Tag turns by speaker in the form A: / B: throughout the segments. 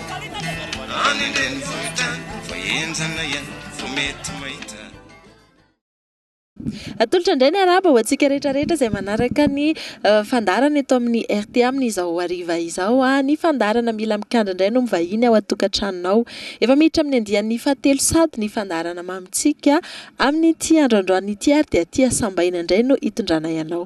A: Any an-drenivohitra vao henjana iany vao mety mahita.
B: Atolotra indray ny arahaba ho antsika rehetra rehetra izay manaraka ny fandaharana eto amin'ny rta amin'izao hariva izao. Ny fandaharana Mila Mikandra indray no mivahiny ao an-tokantranonao. Efa miditra amin'ny andiany fahatelo sad ny fandaharana Mamintsika amin'ity andro androany ity ary dia aty Hasambaina indray no hitondranay anao.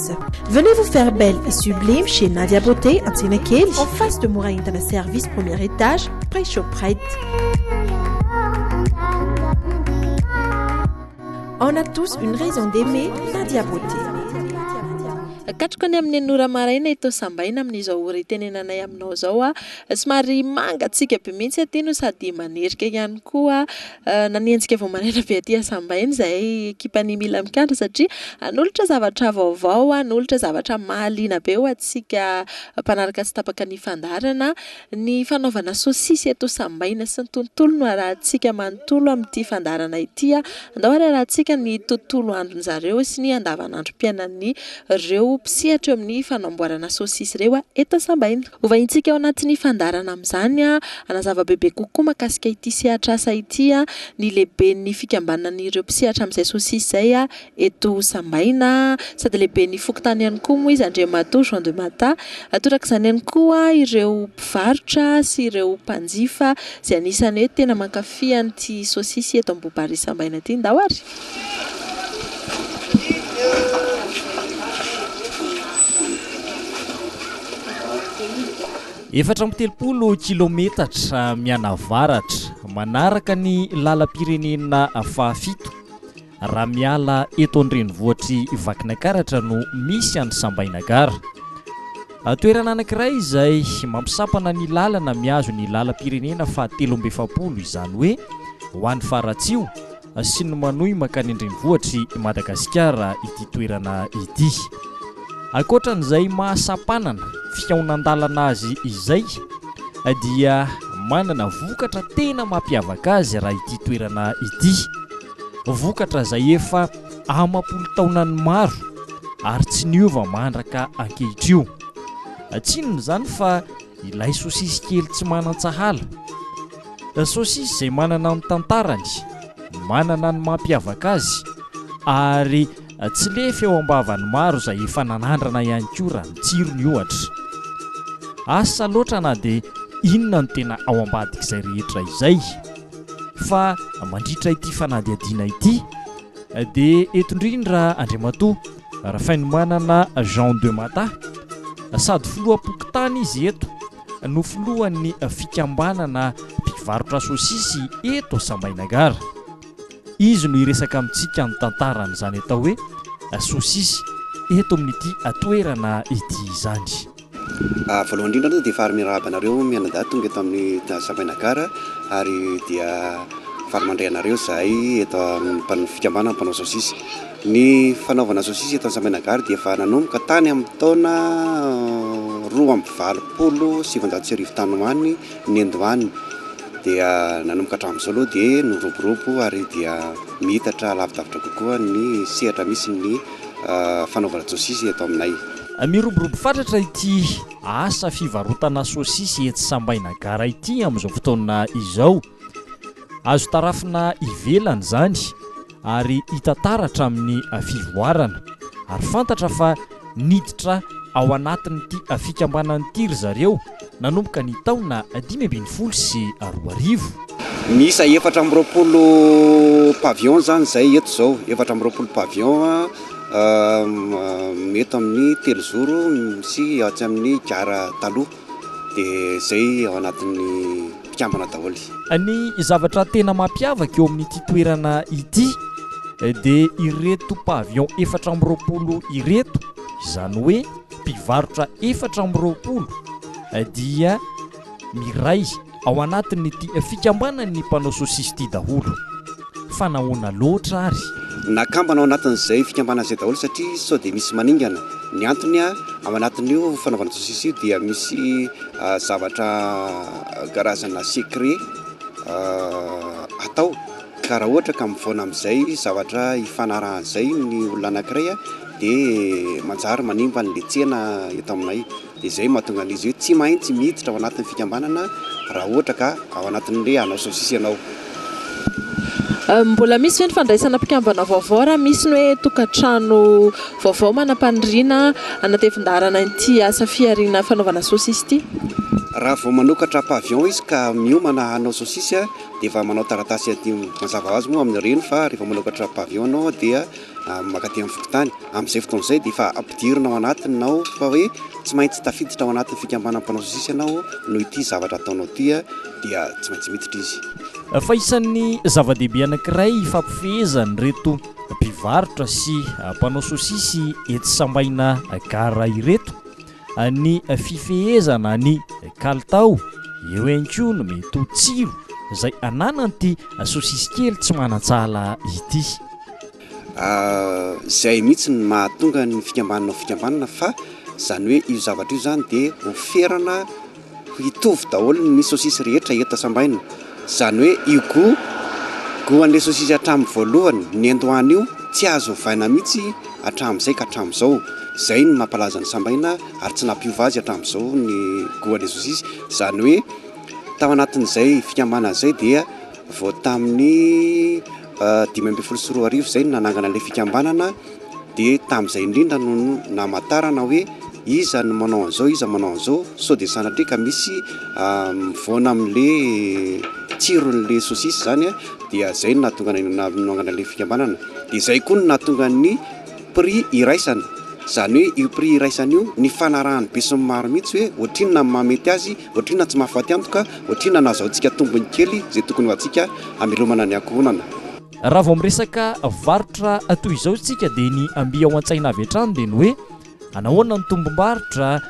C: Service. Venez vous faire belle et sublime chez Nadia Beauté Antsenakely, en face de Mora Entana Service, premier étage, près Shoprite. On a tous une raison d'aimer Nadia Beauté.
B: Katroka ny amin'ny enora maraina eto Sambaina amin'izao ora itenenanay aminao izao. Somary mangatsiaka be mihitsy aty no sady manerika ihany koa. Nanenjika vao maraina be aty Hasambaina izahay ekipan'ny Mila Mikandra satria hanolotra zavatra vaovao, hanolotra zavatra mahaliana be ho antsika mpanaraka tsy tapaka ny fandaharana. Ny fanaovana saosisy eto Sambaina sy ny tontolo no harahantsika manontolo amin'ity fandaharana ity. Andao ary harahantsika ny tontolo andron'izareo sy ny andavanandrom-piainan'ireo mpisehatra eo amin'ny fanamboarana saosisy ireo eto Sambaina. Hovahintsika ao anatin'ny fandaharana amin'izany hanazava bebe kokoa mahakasika ity sehatr'asa ity ny lehiben'ny fikambanan'ireo mpisehatra amin'izay sosisy izay eto Sambaina sady lehiben'ny fokontany ihany koa moa izy, Andriamatoa Jean de Mata. Torak'izany ihany koa ireo mpivarotra sy ireo mpanjifa izay anisan'ny hoe tena mankafy an'ity sosisy eto Ambohibarỳ Sambaina ity. Ndao ary!
D: Efatra amby telopolo kilaometatra mianavaratra, manaraka ny lalam-pirenena fahafito, raha miala eto an-drenivohitr'i Vakinakaratra no misy an'i Sambainagara. Toerana anankiray izay mampisampana ny lalana mihazo ny lalam-pirenena fahatelo amby efapolo, izany hoe ho any Faratsiho. Asian'ny manohy mankany an-drenivohitr'i Madagasikara ity toerana ity. Ankoatran'izay maha sampanana fihaonan-dalana azy izay dia manana vokatra tena mampiavaka azy raha ity toerana ity. Vokatra izay efa amam-polo taonany maro ary tsy niova mandraka ankehitrio. Tsinona izany fa Ilay sosisy kely tsy manan-tsahala. Sosisy izay manana ny tantarany, manana ny mampiavaka azy, ary tsy lefy eo am-bavan'ny maro izay efa nanandrana ihany koa raha ny tsirony ohatra. Asa loatra na dia inona no tena ao ambadik'izay rehetra izay. Fa mandritra ity fanadihadiana ity dia eto indrindra Andriamatoa. Rafainomanana Jean de Mata, sady filoham-pokontany izy eto, no filohan'ny fikambanana mpivarotra sosisy eto Sambainagara. Izy no hiresaka amintsika ny tantaran'izany atao hoe sosisy eto amin'ity toerana ity izany. Voalohany
E: indrindra aloha dia faly miarahaba anareo mianadahy tonga eto amin'ny Savaina Gare ary dia faly mandray anareo izahay eto amin'ny fikambanana mpanao saosisy. Ny fanaovana saosisy eto Savaina Gare dia efa nanomboka tany amin'ny taona roa amby valopolo sy sivinjato sy arivo tany ho any nendo any dia nanomboka hatramin'izao aloha dia niroborobo ary dia miitatra lavidavitra kokoa ny sehatra misy ny fanaovana saosisy eto aminay. Miroborobo
D: fatratra ity asa fivarotana saosisy etsy Sambaina Gara ity amin'izao fotoana izao. Azo tarafina ivelany izany ary hita taratra amin'ny fivoarana. Ary fantatra fa niditra ao anatin'ity fikambanana ity ry zareo. nanomboka ny taona dimy ambin'ny folo sy roa arivo.
E: Miisa efatra amby roapolo pavillon izany izay eto izao, efatra amby roapolo pavillon eto amin'ny telozoro sy atsy amin'ny gara taloha, dia izay ao anatin'ny mpikambana daholo. Ny zavatra
D: tena mampiavaka eo amin'ity toerana ity dia ireto pavillon efatra amby roapolo ireto, izany hoe. mpivarotra efatra amby roapolo dia miray ao anatin'ity fikambanan'ny mpanao sosisy ity daholo fa nahoana loatra ary? Nakambana ao
E: anatin'izay fikambanana izay daholo satria sao dia misy maningana. Ny antony ao anatin'io fanaovana sosisy io dia misy zavatra karazana secret atao ka raha ohatra ka mivaona amin'izay zavatra hifanarahan'izay ny olona anankiray dia manjary manimba ny letsena eto aminay, dia izay no mahatonga an'izy ireo tsy maintsy miditra ao anatin'ny fikambanana raha ohatra ka ao anatin'ny hoe hanao saosisy ianao.
B: Mbola misy ve ny fandraisana mpikambana vaovao raha misy ny hoe tokantrano vaovao manam-paniriana hanatevin-daharana ity asa fihariana fanaovana saosisy ity? Raha vao
E: manokatra pavillon izy ka miomana hanao saosisy dia efa manao taratasy adio, mazava ho azy moa amin'ireny fa rehefa manokatra pavillon ianao dia mankaty amin'ny fokontany, amin'izay fotoana izay dia efa ampidirina ao anatiny nao fa hoe tsy maintsy tafiditra ao anatin'ny fikambanana mpanao sosisy ianao noho ity zavatra ataonao ity dia tsy maintsy miditra izy. Fa isan'ny
D: zava-dehibe anankiray ifampifehezan'ireto mpivarotra sy mpanao sosisy etsy Sambaina Gara ireto Ny fifehezana ny kalitao, eo ihany koa no mety ho tsiro izay ananan'ity sosisy kely tsy manan-tsala ity.
E: Izay mihitsy no mahatonga ny fikambanana ho fikambanana fa izany hoe io zavatra io izany dia ho ferana. Hitovy daholo ny sosisy rehetra eto sambaina, izany hoe io gout gout an'ilay sosisy hatramin'ny voalohany nendoany io tsy azo ovaina mihitsy hatramin'izay ka hatramin'izao, izay no mampalaza ny sambaina ary tsy nampiova azy hatramin'izao ny gout an'ilay sosisy, izany hoe tao anatin'izay fikambanana izay dia vao tamin'ny. dimy ambin'ny folo sy roa arivo izay no nanangana ilay fikambanana dia tamin'izay indrindra no namatarana hoe iza no manao an'izao iza manao an'izao sao dia sanatria ka misy mivoana amin'le tsiron'le sosisy zany a dia zay no nahatonga anay nanangana ilay fikambanana dia zay koa no nahatonga ny prix iraisana izany hoe io prix iraisana io ny fanarahan'ny besinimaro mihitsy hoe ohatrinona ny mahamety azy Otrina tsy mahafaty antoka, otrina nahazahoantsika tombony kely izay tokony ho antsika hamelomana ny ankohonana. Raha vao miresaka
D: varotra toy izao isika dia ny mby ao antsaina avy hatrany dia ny hoe anahoana ny tombom-barotra,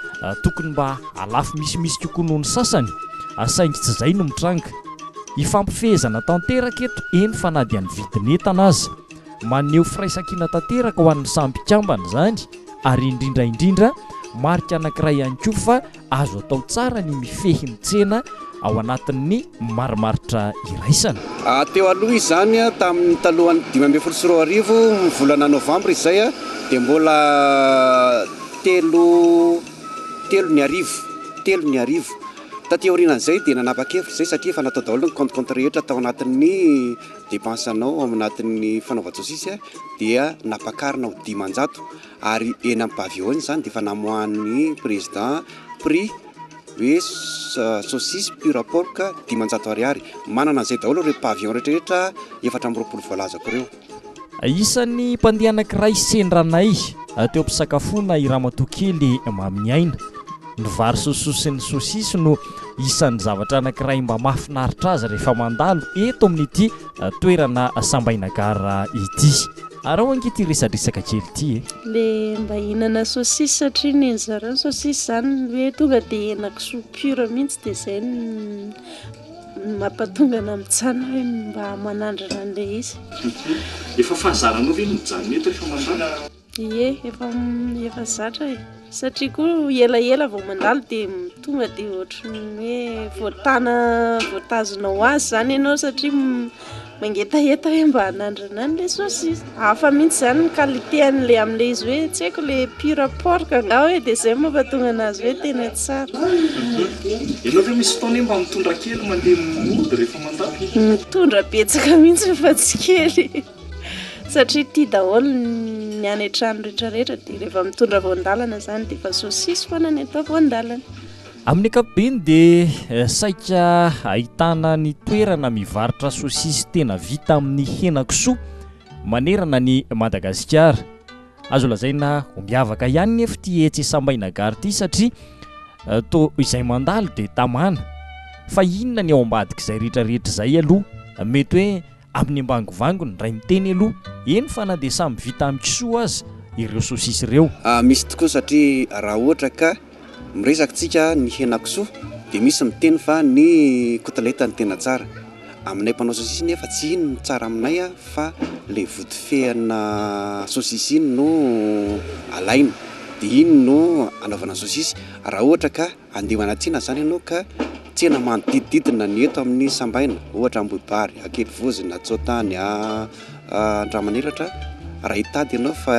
D: tokony mba halafo misimisy kokoa noho ny sasany, saingy tsy izay no mitranga. Hifampifehezana tanteraka eto, eny fa na dia ny vidin'entana aza. Maneho firaisankina tanteraka ho an'ny samy mpikambana izany ary indrindra indrindra marika anankiray ihany koa fa Azo atao tsara ny mifehy ny tsena ao anatin'ny marimaritra iraisana. Teo aloha
E: izany, tamin'ny talohan'ny dimy ambin'ny folo sy roa arivo, ny volana novambra izay, dia mbola telo telo ny arivo, telo ny arivo. Taty aorianan'izay dia nanapa-kevitra izay satria efa natao daholo ny compte-compte rehetra tao anatin'ny dépense-nao ao anatin'ny fanaovan-tsosisy dia nampakarina ho dimanjato. ary eny amin'ny pavillon izany dia efa namoahan'ny président prix hoe saucisse pure pork dimanjato ariary, manana an'izay daholo ireo pavillon rehetrarehetra efatra amby roapolo voalazako ireo. Isan'ny
D: mpandeha anankiray sendranay teo am-pisakafoana i Ramatoa kely Maminiaina. Ny vary sosoa sy ny sosisy no isan'ny zavatra anankiray mba mahafinaritra azy rehefa mandalo eto amin'ity toerana Sambaina Gare ity. Araho ange ity resadresaka kely ity e! Le mba
F: hihinana sosisy satria nen'i zareo ny sosisy zany hoe tonga de henakisoa pure mihitsy de zay no mampatonga anah mijanona hoe mba manandrana an'le izy. Efa
D: fahazaranao ve ny mijanona eto rehefa mandalo? Ie, efa
F: efa zatra e! Satria koa elaela vao mandalo dia tonga dia ohatran'ny hoe voatana voatazona ho azy zany ianao satria mangetaheta hoe mba anandrana any ilay saucisse. Hafa mihitsy zany ny qualité an'ilay amin'ilay izy hoe tsy haiko ilay pur porc angaha hoe dia izay no mampatonga anazy hoe tena tsara. Ianao
D: ve misy fotoana hoe mba mitondra kely mandeha mody rehefa mandalo? Mitondra
F: betsaka mihitsy fa tsy kely. Satria tia daholo ny any an-trano rehetra rehetra dia rehefa mitondra voan-dalana izany dia efa saucisse foana ny atao voan-dalana. Amin'ny
D: ankapobeny dia saika ahitana ny toerana mivarotra saucisse tena vita amin'ny henan-kisoa manerana an'i Madagasikara. Azo lazaina ho miavaka ihany nefa ity etsy Sambainagaro ity satria toa izay mandalo dia tamana fa inona ny ao ambadik'izay rehetra rehetra izay aloha mety hoe amin'ny ambangovangony ray miteny aloha, eny fa na dia samy vita amin'ny kisoa aza ireo sosisy ireo. Misy tokoa
E: satria raha ohatra ka miresaka isika ny henakisoa dia misy miteny fa ny kotileta no tena tsara. Aminay mpanao sosisy nefa tsy iny no tsara aminay fa ilay vodifehana sosisy iny no alaina dia iny no anaovana sosisy raha ohatra ka. Andeha manatsina izany ianao ka tsena manodidididina ny eto amin'ny sambaina, ohatra Ambohibary, Ankidivozina, Antsotany, Andramanelatra, raha hitady ianao fa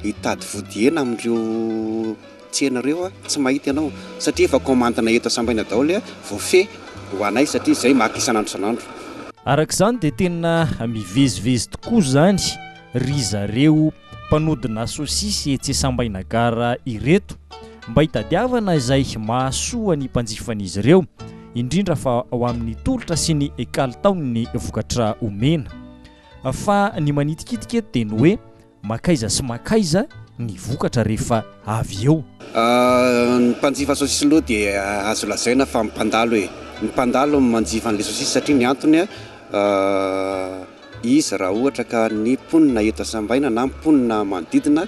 E: hitady vodihena amin'ireo tsena ireo tsy mahita ianao satria efa commande-na eto sambaina daholo voafehy ho anay satria izay maka isan'andro isan'andro. Araka izany dia
D: tena mivezivezy tokoa izany ry zareo. mpanodina sosisy etsy Isambaina Gare ireto mba hitadiavana izay mahasoa ny mpanjifan'izy ireo, indrindra fa ho amin'ny tolotra sy ny kalitaon'ny vokatra omena. Fa ny manitikitika eto dia ny hoe mankaiza sy mankaiza ny vokatra rehefa avy eo. Ny
E: mpanjifa sosisy aloha dia azo lazaina fa mpandalo e! Ny mpandalo no manjifa an'ilay sosisy satria ny antony an! Izy raha ohatra ka ny mponina eto Sambaina na mponina manodidina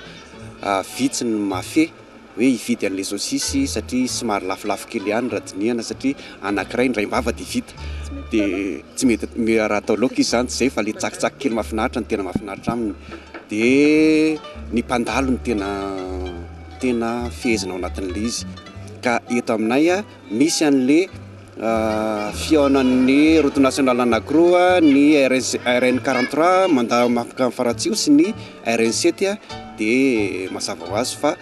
E: vitsy no mahafehy hoe hividy an'ilay saosisy satria somary lafolafo kely ihany raha dinihana satria anankiray ny raim-bava dia vita dia tsy mety raha atao laoka izy izany tsy izay fa ilay tsakitsaky kely mahafinaritra no tena mahafinaritra aminy dia ny mpandalo no tena tena fehezina ao anatin'ilay izy ka eto aminay Misy anle fihaonan'ny route nationale anankiroa, ny RN quarante trois mandà mankany Faratsiho sy ny RN sept dia mazava ho azy fa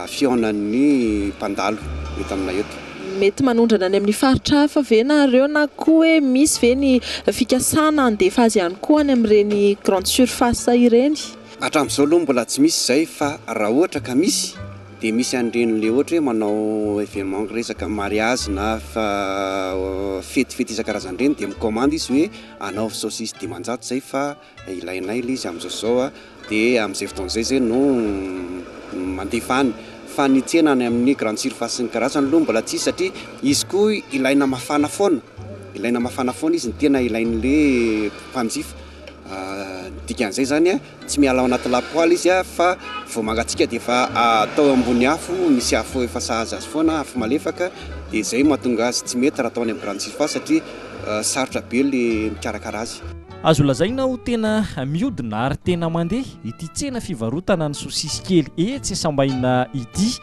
E: fihaonan'ny mpandalo eto aminay eto. Mety manondrana any
B: amin'ny faritra hafa ve nareo na koa hoe misy ve ny fikasana handefa azy ihany koa any amin'ireny grande surface ireny? Hatramin'izao aloha mbola
E: tsy misy izay fa raha ohatra ka misy Dia misy an'ireny le ohatra hoe manao événement resaka mariage na fety fety isan-karazany ireny dia mi-commande izy hoe anaovy saucisse dimanjato izay fa ilainay le izy amin'izao zao a, dia amin'izay fotoana izay zay no mandefa any. Fa ny tsena any amin'ny grande surface sy ny karazany aloha mbola tsisy satria izy koa ilaina mafana foana, ilaina mafana foana izy ny tena ilain'le mpanjifa. Ny dikan'izay zany a. Tsy miala ao anaty lapoaly izy fa vao mangatsiaka dia efa atao eo ambony afo misy afo efa sahaza azy foana, afo malefaka, dia izay no mahatonga azy tsy mety raha atao any amin'ny grande surface satria sarotra be ilay mikarakara azy. Azo lazaina ho
D: tena mihodina ary tena mandeha ity tsena fivarotana ny sosisy kely etsy Sambahina ity.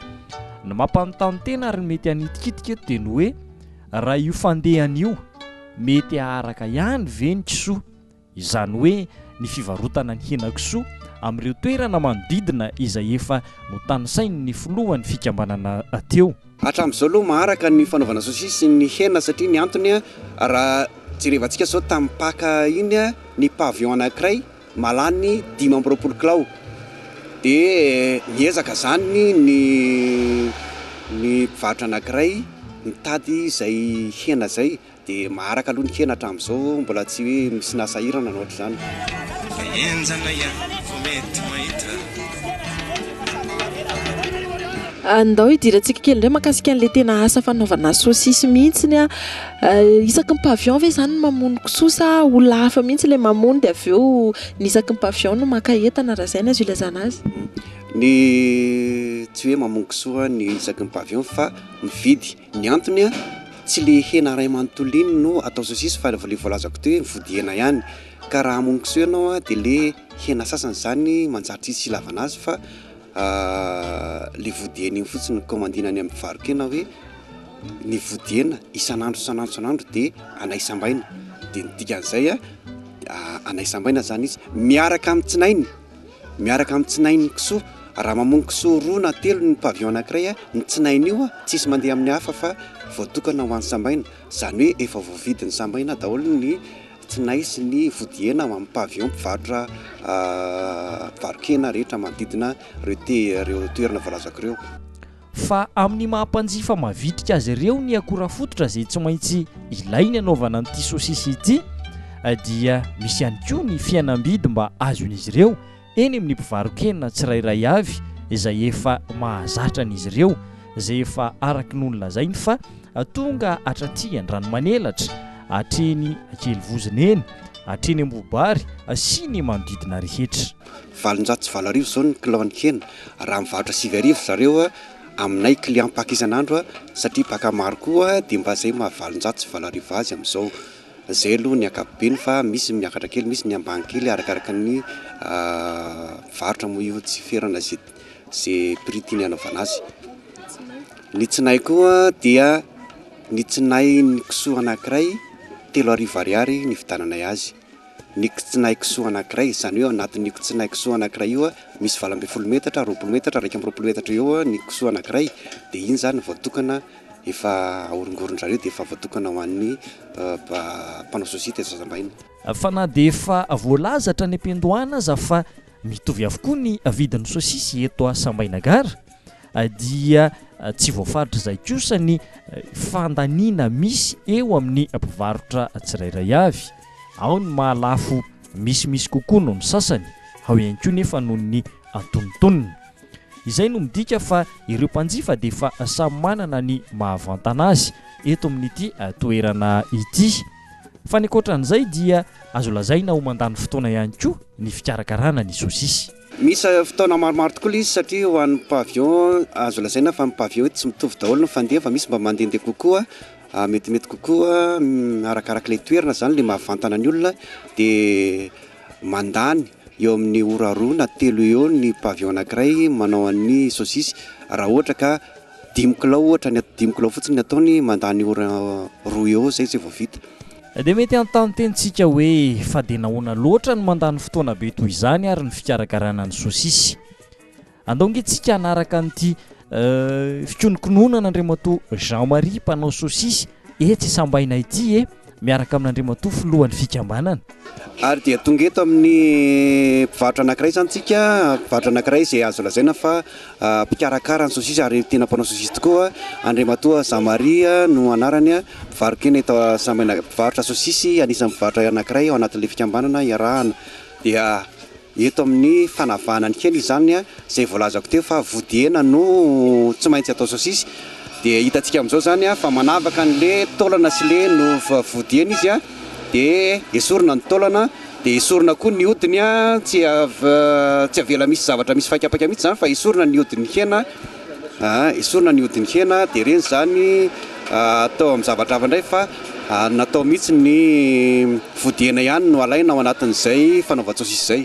D: Ny mampanontany tena ary ny mety hanitikitika eto dia ny hoe raha io fandehany io mety haharaka ihany ve ny kisoa? izany hoe ny fivarotana ny henakisoa amin'ireo toerana manodidina izay efa notanisain'ny filohan'ny fikambanana teo. Hatramin'izao aloha
E: maharaka ny fanaovana saosisy ny hena satria ny antony raha jerevantsika izao tamin'ny Paka iny ny pavillon anankiray mahalany dimy amby roapolo kilao dia miezaka izany ny ny mpivarotra anankiray mitady izay hena izay Dia maharaka aloha ny kena hatramin'izao, mbola tsy hoe misy nasahirana na ohatr'izany.
B: Andao hidirantsika kely indray mahakasika an'ilay tena asa fanaovana sosisy mihitsiny. Isaky ny pavillon ve izany no mamono kisoa sa olona hafa mihitsy ilay mamono dia avy eo ny isaky ny pavillon no maka entana, raha izay no azo ilazana azy? Ny
E: tsy hoe mamono kisoa ny isaky ny pavillon fa mividy. Ny antony an, tsy le hena ray manontolo iny no atao saucisse fa le voalazako teo iny vody hena ihany. Ka raha hamono kisoa ianao an, de le hena sasany zany manjary tsy hisy ilavana azy fa le vody hena iny fotsiny no kaomandina any amin'ny mpivaro-kena hoe ny vody hena isan'andro isan'andro isan'andro de anay sambaina. De ny dikan'izay an, anay sambaina zany izy miaraka amin'ny tsinainy. miaraka amin'ny tsinain'ny kisoa, raha mamono kisoa roa na telo ny pavillon anankiray, ny tsinain'io tsisy mandeha amin'ny hafa fa voatokana ho an'ny sambaina, izany hoe efa voavidin'ny sambaina daholo ny tsinay sy ny vodihaina ao amin'ny pavillon mpivarotra mpivaro-kena rehetra manodidina ireo te- ireo toerana voalazako ireo. fa
D: amin'ny maha mpanjifa mavitrika azy ireo ny akora fototra izay tsy maintsy ilainy hanaovana an'ity sosisy ity dia misy ihany koa ny fihenam-bidy mba azon'izy ireo eny amin'ny mpivarokena tsirairay avy izay efa mahazatra an'izy ireo izay efa araky no nolazainy fa tonga hatraty Andranomanelatra hatreny Ankelivozona eny hatreny Ambobary sy ny manodidina rehetra. valonjato sy valo
E: arivo zao ny kilao ny hena raha mivarotra sivy arivo ry zareo a aminay client mpaky isan'andro a satria mpaka maro koa dia mba zay maha valonjato sy valo arivo azy amizao zay aloha ny ankapobeny fa misy ny miakatra kely misy ny ambany kely arakaraka ny mpivarotra moa io tsy ferana ze ze prix tiany anaovana azy ny tsinay koa dia ny tsinay ny kisoa anakiray telo arivo ariary ny vidananay azy ny kitsinaikisoa anankiray, izany hoe ao anatin'io kitsinaikisoa anankiray io misy valo ambin'ny folo metatra, roapolo metatra, iraika amby roapolo metatra eo ny kisoa anankiray dia iny izany voatokana efa ahorongoron-dry zareo dia efa voatokana ho an'ny mpanao sosiyte eto Zazambahiny. Fa na dia
D: efa voalaza hatrany am-piandohana aza fa mitovy avokoa ny vidin'ny sosisy eto Sambaina Gare, dia tsy voafaritra izay kosa ny fandaniana misy eo amin'ny mpivarotra tsirairay avy, ao ny mahalafo misimisy kokoa noho ny sasany, ao ihany koa nefa noho ny antonontonony. Izay no midika fa ireo mpanjifa dia efa samy manana ny mahavantana azy eto amin'ity toerana ity. Fa ny ankoatran'izay dia azo lazaina ho mandany fotoana ihany koa ny fikarakarana ny sosisy. Misy fotoana
E: maromaro tokoa ilay izy satria ho an'ny pavillon azo lazaina fa ny pavillon eto tsy mitovy daholo ny fandefa, misy mba mandehandeha kokoa, metimety kokoa arakaraka ilay toerana izany ilay mahavantana ny olona dia mandany eo amin'ny ora roa na telo eo eo ny pavillon anankiray manao an'ny saosisy raha ohatra ka dimy kilao ohatra, dimy kilao fotsiny ny ataony mandany ora roa eo izay izay vao vita. Dia mety hanontany
D: tena isika hoe, fa dia nahoana loatra no mandany fotoana be toy izany ary ny fikarakarana ny sosisy? Andao ange isika hanaraka an'ity fikonokononan'Andriamatoa Jean Marie mpanao sosisy etsy Isambaina ity e! miaraka amin'Andriamatoa filohan'ny fikambanana. Ary dia
E: tonga eto amin'ny mpivarotra anankiray izany isika, mpivarotra anankiray izay azo lazaina fa mpikarakara ny saosisy ary tena mpanao saosisy tokoa, Andriamatoa Jean Marie no anarany, mpivarokena eto Sambena, mpivarotra saosisy, anisan'ny mpivarotra anankiray ao anatin'ilay fikambanana iarahana. Dia eto amin'ny fanavahana ny kely izany, izay voalazako teo fa vodihena no tsy maintsy atao saosisy, dia hitantsika amin'izao izany fa manavaka an'ilay taolana sy ilay nofo vodihena izy. dia esorina ny taolana dia esorina koa ny hodiny tsy tsy avela misy zavatra misy faikapaka mihitsy zany fa esorina ny hodiny hena ah esorina ny hodiny hena dia ireny zany atao amin'ny zavatra hafa indray fa natao mihitsy ny vody hena ihany no alaina ao anatin'izay fanaovan-tsosisy izay.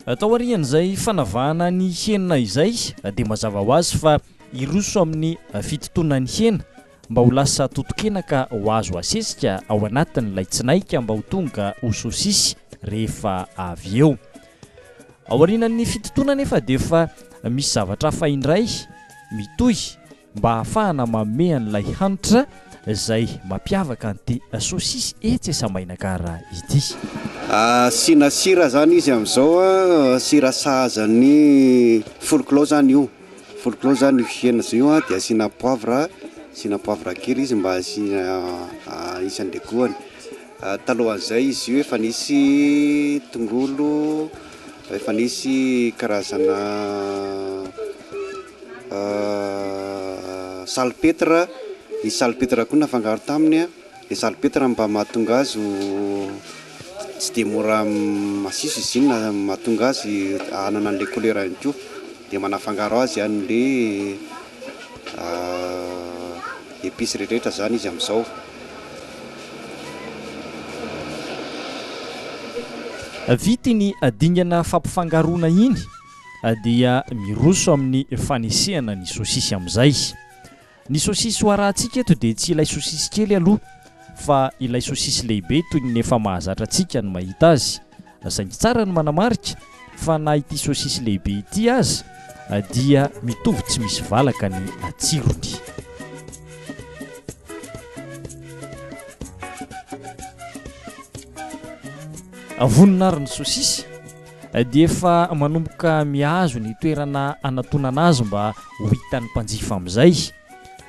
E: Atao arian'izay
D: fanavahana ny hena izay dia mazava ho azy fa hiroso amin'ny fitotonan'ny hena mba ho lasa totokena ka ho azo asesika ao anatin'ilay tsinaika mba ho tonga ho sosisy rehefa avy eo. Aorianan'ny fitotoana anefa dia efa misy zavatra hafa indray mitohy mba hahafahana manome an'ilay hanitra izay mampiavaka an'ity sosisy etsy Asambainan-kara ity. Asiana
E: sira izany izy amin'izao, sira sahaza ny folklao izany io. Folklore zany io hena zay io dia asiana poivre, asiana poivre kely izy mba hisy andegoany, talohan'izay izy io efa nisy tongolo, efa nisy karazana salpetre, nisy salpetre koa nafangaro taminy. Le salopetra mba mahatonga azy ho tsy dia mora masiso izy iny na mahatonga azy hanana an'ilay couleur ihany koa dia manafangaro azy an'ilay epices rehetrarehetra izany izy amin'izao.
D: Vita iny dingana fampifangaroana iny dia miroso amin'ny fanesehana ny sosisy amin'izay. Ny sosisy ho arahantsika eto dia tsy ilay sosisy kely aloha fa ilay sosisy lehibe toy ny efa mahazatra antsika ny mahita azy, saingy tsara ny manamarika fa na ity sosisy lehibe ity aza dia mitovy tsy misy valaka ny tsirony. Vonona ary ny sosisy. dia efa manomboka mihazo ny toerana hanatonana azy mba ho hitan'ny mpanjifa amin'izay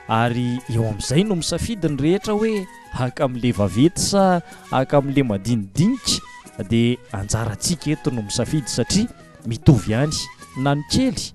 D: ary eo amin'izay no misafidy ny rehetra hoe haka amin'ilay vaventy sa haka amin'ilay madinidinika dia anjarantsika eto no misafidy satria mitovy ihany na ny kely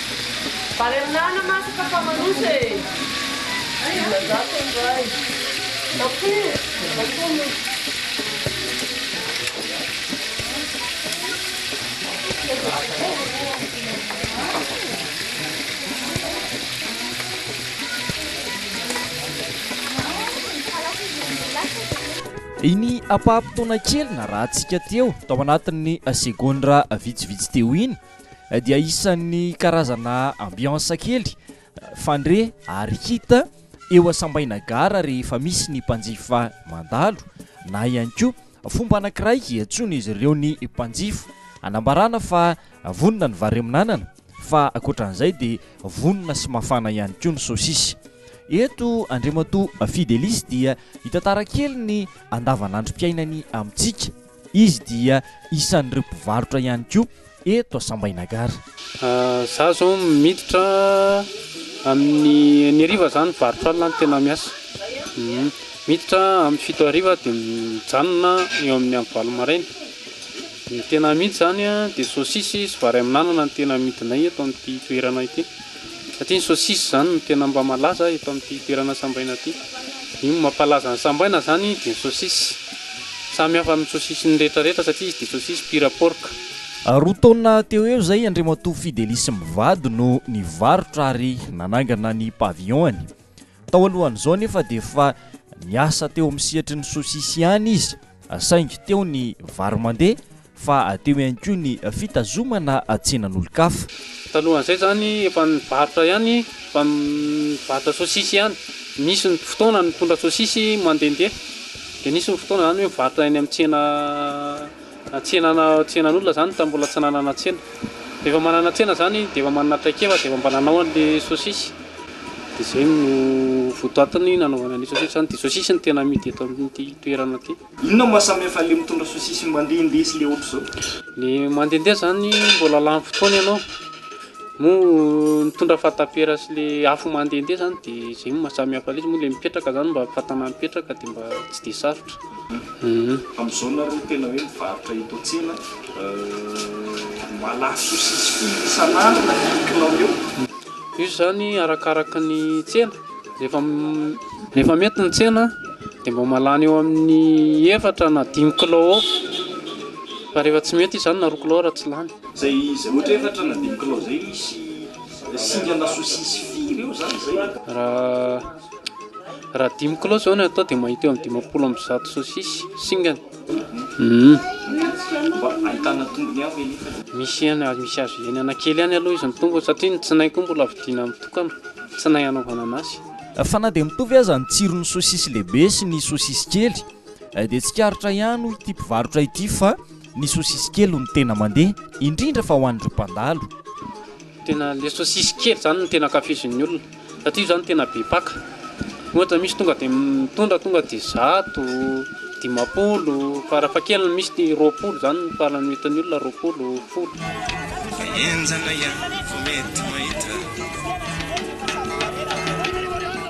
D: Vary amin'anana masaka fa maloto e! Dimanjato ny iray. Iny ampaha-potoana kely narahantsika teo, tao anatin'ny segondra vitsivitsy teo iny, dia isan'ny karazana ambiance kely fandre ary hita eo asambaina gara rehefa misy ny mpanjifa mandalo na ihany koa fomba anankiray hiantsoana izy ireo ny mpanjifa anambarana fa vonona ny vary amin'anana fa ankoatran'izay dia vonona sy mafana ihany koa ny sosisy eto Andriamatoa Fidelis dia hitantara kely ny andavanandrom-piainany amintsika Izy dia isan'ireo mpivarotra ihany koa eto Sambainagara. Za
G: zao miditra amin'ny enina hariva za mivarotra alina no tena miasa. Miditra amin'ny fito hariva dia mijanona eo amin'ny amin'ny valo maraina. Ny tena amidy zany dia sôsisy sy vary amin'anana no tena amidinay eto amin'ity toerana ity. Satria ny saucisse izany no tena mba malaza eto amin'ity toerana sambaina ity. Io no mampalaza an'i sambaina izany dia ny saucisse. Samy hafa amin'ny saucisse ny rehetra rehetra satria izy dia saucisse pure porc. Roa taona
D: teo ho eo izay Andriamatoa Fidely sy mivady no nivarotra ary nanangana ny pavillon-ny. Tao alohan'izao anefa dia efa niasa teo amin'ny sehatry ny saucisse ihany izy saingy teo ny vary mandeha fa teo ihany koa ny fitazomana tsenan'olon-kafa. Talohan'izay
G: izany efa nivarotra ihany, efa nivarotra sosisy ihany, nisy ny fotoana nitondra sosisy mandehandeha, dia nisy ny fotoana izany hoe mivarotra eny amin'ny tsena tsenana tsenan'olona izany tamin'ny mbola tsy nanana tsena, rehefa manana tsena izany dia efa manana traikefa dia efa mba nanao an'ilay sosisy, dia izay no votoatiny nanaovana an'ilay sosisy izany, dia sosisy no tena amidy eto amin'ity toerana ity. Inona no mahasamihafa an'ilay
H: mitondra sosisy ny mandehandeha sy ilay ohatr'izao? Ny mandehandeha
G: izany mbola lany fotoana ianao, moa mitondra fatapera sy ilay afo mandehandeha izany dia izay no mahasamihafa an'ilay izy, moa ilay mipetraka izany mba fatana mipetraka dia mba tsy dia sarotra. Amin'izao
H: nareo tena hoe mivarotra eto an-tsena, malaso sosisy firy isan'andro na firy kilao eo? Io izany
G: arakaraka ny tsena. Rehefa rehefa mety ny tsena dia mba mahalany eo amin'ny efatra na dimy kilao eo fa rehefa tsy mety izy izany na roa kilao ary tsy lany. Izay izay ohatra hoe
H: efatra na dimy kilao izay misy singana sosisy firy eo izany izay? Raha raha dimy kilao izao no atao dia mahita eo amin'ny dimampolo amby zato sosisy singany. Misy ihany azo misy
G: azo hiainana kely ihany aloha izy ny tongony satria ny tsinay koa mbola vidiana mitokana, tsinay hanaovana an'asy. Fa na dia mitovy
D: aza ny tsiron'ny sosisy lehibe sy ny sosisy kely dia tsikaritra ihany hoy ity mpivarotra ity fa ny sosisy kely no tena mandeha indrindra fa ho an'ireo mpandalo. Tena
G: le sosisy kely zany no tena ankafizin'ny olona satria io zany tena be paka, ohatra misy tonga de mitondra tonga de zato, dimampolo, farafahakeliny misy roapolo zany no farany vitan'ny olona, roapolo, folo.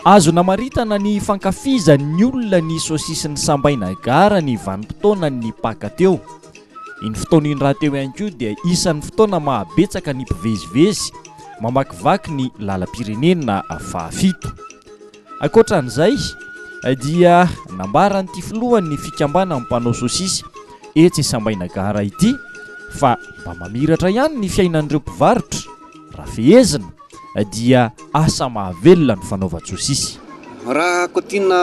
D: Azo namaritana ny fankafizan'ny olona ny sosisin'ny sambaina gara ny vanim-potoanan'ny paka teo. Iny fotoana iny rahateo ihany koa dia isan'ny fotoana mahabetsaka ny mpivezivezy mamakivaky ny lalam-pirenena fahafito. Ankoatra an'izay dia nambaran'ity filohan'ny fikambanan'ny mpanao sosisy etsy Sambaina Gara ity fa mba mamiratra ihany ny fiainan'ireo mpivarotra. Raha fehezina dia asa mahavelona ny fanaovan-tsosisy. Raha
E: kotiana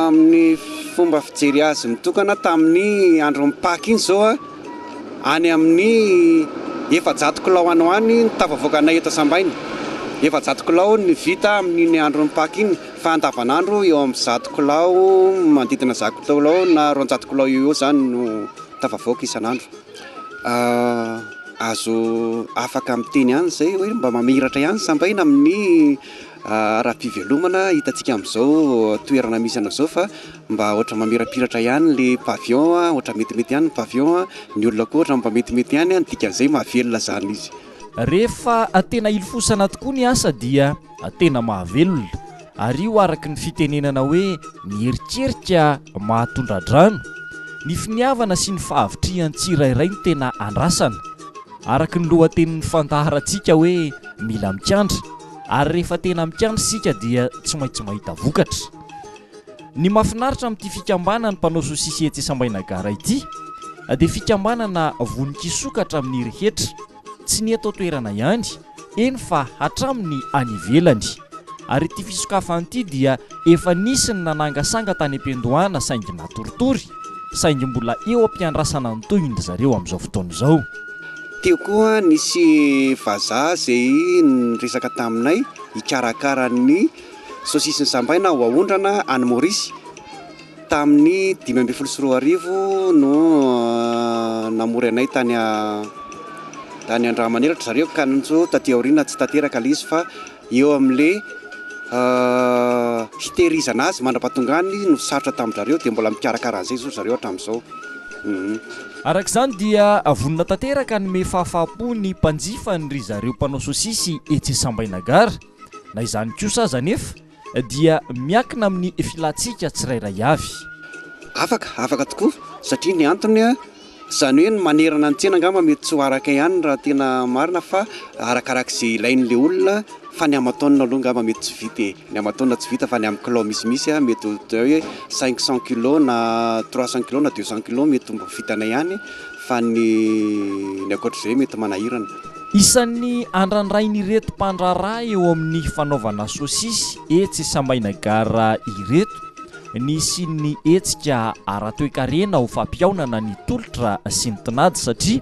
E: amin'ny fomba fijery azy mitokana tamin'ny andron'ny Paka iny izao, any amin'ny efajato kilao any ho any ny tafavoakanay eto Sambaina. Efajato kilao ny vita amin'iny andron'ny Paka iny fa andavanandro eo amin'ny zato kilao, manodidina zato kilao na roanjato kilao eo ho eo izany no tafavoaka isan'andro. azo afaka miteny ihany izay hoe mba mamiratra ihany ny sambaina amin'ny ara-pivelomana hitantsika amin'izao toerana misy anao izao fa mba ohatran'ny mamirapiratra ihany ilay pavillon, ohatran'ny metimety ihany ny pavillon, ny olona koa ohatran'ny mba metimety ihany, ny dikan'izay mahavelona izany izy. Rehefa
D: tena hilofosana tokoa ny asa dia Tena mahavelona. Ary io araka ny fitenenana hoe ny eritreritra mahatondra-drano. Ny finiavana sy ny fahavitrihan'ny tsirairay no tena andrasana. Araka ny lohatenin'ny fandaharantsika hoe mila mikandra. Ary rehefa tena mikandra isika dia tsy maintsy mahita vokatra. Ny mahafinaritra amin'ity fikambanan'ny mpanao sosisy etsy Sambainagara ity dia fikambanana vonon-kisokatra amin'ny rehetra. Tsy ny eto an-toerana ihany eny fa hatramin'ny any ivelany. Ary ity fisokafana ity dia efa nisy ny nanangasanga tany am-piandohana saingy natoritory, saingy mbola eo am-piandrasana ny tohiny ry zareo amin'izao fotoana izao. Teo koa
E: nisy vazaha izay niresaka taminay hikarakara ny saosisy nosambaina ho aondrana any Maurice. Tamin'ny dimy ambin'ny folo sy roa arivo no namory anay tany tany Andramanera ry zareo ka njo taty aoriana tsy tanteraka le izy fa eo amle hitehirizana azy mandrapahatongany no sarotra tamin-dRareo dia mbola mikarakara an'izay zao ry zareo hatramin'izao. Hum.
D: Araka izany dia vonona tanteraka hanome fahafahampo ny mpanjifany ry zareo mpanao sosisy etsy Sambainagara. Na izany kosa aza anefa dia miakina amin'ny filantsika tsirairay avy. Afaka,
E: afaka tokoa satria ny antony, izany hoe ny manerana ny tsena angamba mety tsy ho araka ihany raha tena marina fa arakaraka izay ilain'ilay olona fa ny aman-taonina aloha angamba mety tsy vita e! Ny aman-taonina tsy vita fa ny amin'ny kilao misimisy mety ho atao hoe cinq cent kilos na trois cent kilos na deux cent kilos mety ho mba vitanay ihany fa ny ny ankoatr'izay mety manahirana. Isan'ny
D: andrandrain'ireto mpandraharaha eo amin'ny fanaovana sosisy etsy Samaina Gare ireto ny hisian'ny hetsika ara-toekarena ho fampihaonana ny tolotra sy ny tinady satria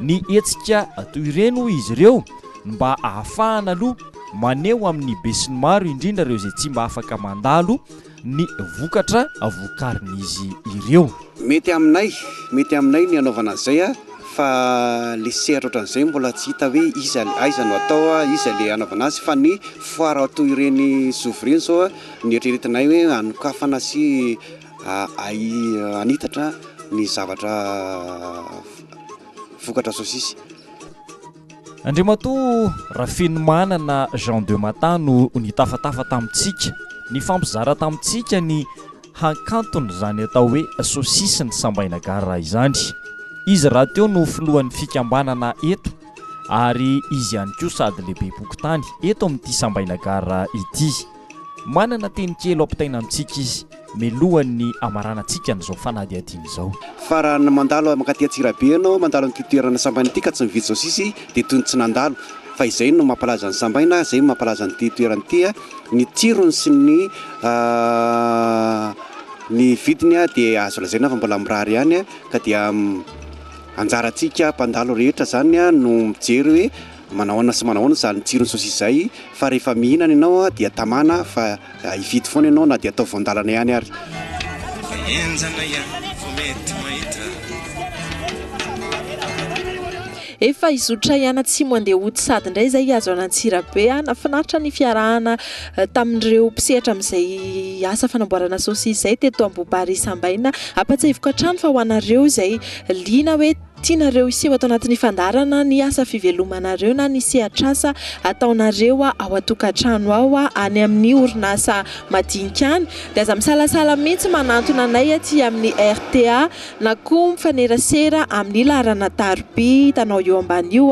D: ny hetsika toy ireny hoy izy ireo no mba ahafahana aloha maneho amin'ny besinimaro indrindra ireo izay tsy mba afaka mandalo ny vokatra vokarin'izy ireo. Mety aminay,
E: mety aminay ny hanaovana izay fa le sehatra ohatran'izay mbola tsy hita hoe iza, aiza no atao, iza le hanaovana azy fa ny foire toy ireny zovy ireny izao no eritreretinay hoe hanokafana sy hanitatra ny zavatra vokatra sosisy. Andriamatoa
D: Rafenomanana Jean de Mata no nitafatafa tamintsika, nifampizara tamintsika ny hakanton'izany atao hoe Sosisy ny Sambaina Gare izany. Izy rahateo no filohan'ny fikambanana eto ary izy ihany koa sady lehibe-pokontany eto amin'ity Sambaina Gare ity. Manana teny kely ho ampitaina amintsika izy, mialohan'ny hamaranantsika an'izao fanadihadiana izao. Fa raha mandalo
E: mankaty Antsirabe ianao, mandalo an'ity toerana sambaina ity ka tsy mividy saosisy dia toy ny tsy nandalo. Fa izay no mampalaza an'i Sambaina, izay no mampalaza an'ity toerana ity. Ny tsirony sy ny ny vidiny dia azo lazaina fa mbola mirary ihany ka dia anjarantsika mpandalo rehetra izany no mijery hoe Manao ahoana sy manao ahoana izany tsiron'ny saosisy izay fa rehefa mihinana ianao dia tamana fa hifidy foana ianao na dia atao voan-dalana ihany ary.
B: Efa hizotra hiany atsimo Andiahoty sady indray izay hihazo an' Antsirabe an! Finaritra ny fiarahana tamin'ireo mpisehatra amin'izay asa fanamboarana saosisy izay teto Ambohibarisa Ambaina. Ampahatsiahiviko hatrany fa ho anareo izay liana hoe. Tianareo hiseho ato anatin'ny fandaharana ny asa fivelomanareo na ny sehatr'asa ataonareo ao an-tokantrano ao any amin'ny orinasa madinika any, dia aza misalasala mihitsy manantona anay aty amin'ny RTA na koa mifanerasera amin'ny laharana tarobia hitanao eo ambany io.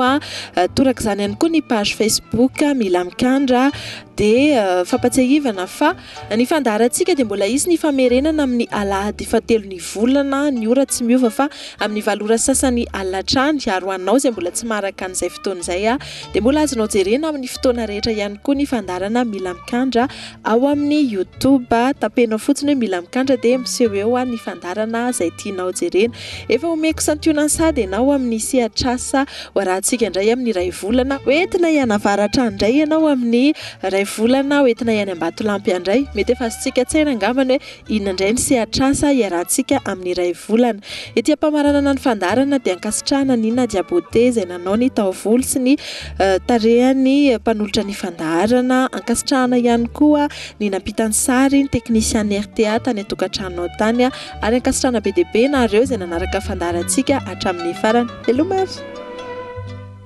B: Torak'izany ihany koa ny page Facebook Mila Mikandra. Dia fampatsiahivana fa. Ny fandaharantsika dia mbola hisy ny famerenana amin'ny alahady fahatelo ny volana, ny ora tsy miova fa amin'ny valo ora sasany alina hatrany, ary ho anao izay mbola tsy maharaka an'izay fotoana izay dia mbola azonao jerena amin'ny fotoana rehetra ihany koa ny fandaharana Mila Mikandra ao amin'ny YouTube, tapenao fotsiny hoe Mila Mikandra dia miseho eo ny fandaharana izay tianao jerena. Efa omeko santionany sahady ianao amin'ny sehatr'asa ho arahantsika indray amin'ny iray volana. Ho entina hianavaratra indray ianao amin'ny Iray volana aho entina ihany Ambatolampy handray. Mety efa azontsika an-tsaina angamba ny hoe inona indray ny sehatr'asa iarahantsika amin'ny iray volana. Ety am-pamaranana ny fandaharana dia ankasitrahana an'i Nadia Beauté izay nanao ny taovolo sy ny tarehan'ny mpanolotra ny fandaharana. Ankasitrahana ihany koa ny nampita ny sary, ny teknisian'ny rta tany an-tokantranonao tany. Ary ankasitrahana be dia be ianareo izay nanaraka fandaharantsika hatramin'ny farany. Veloma ary!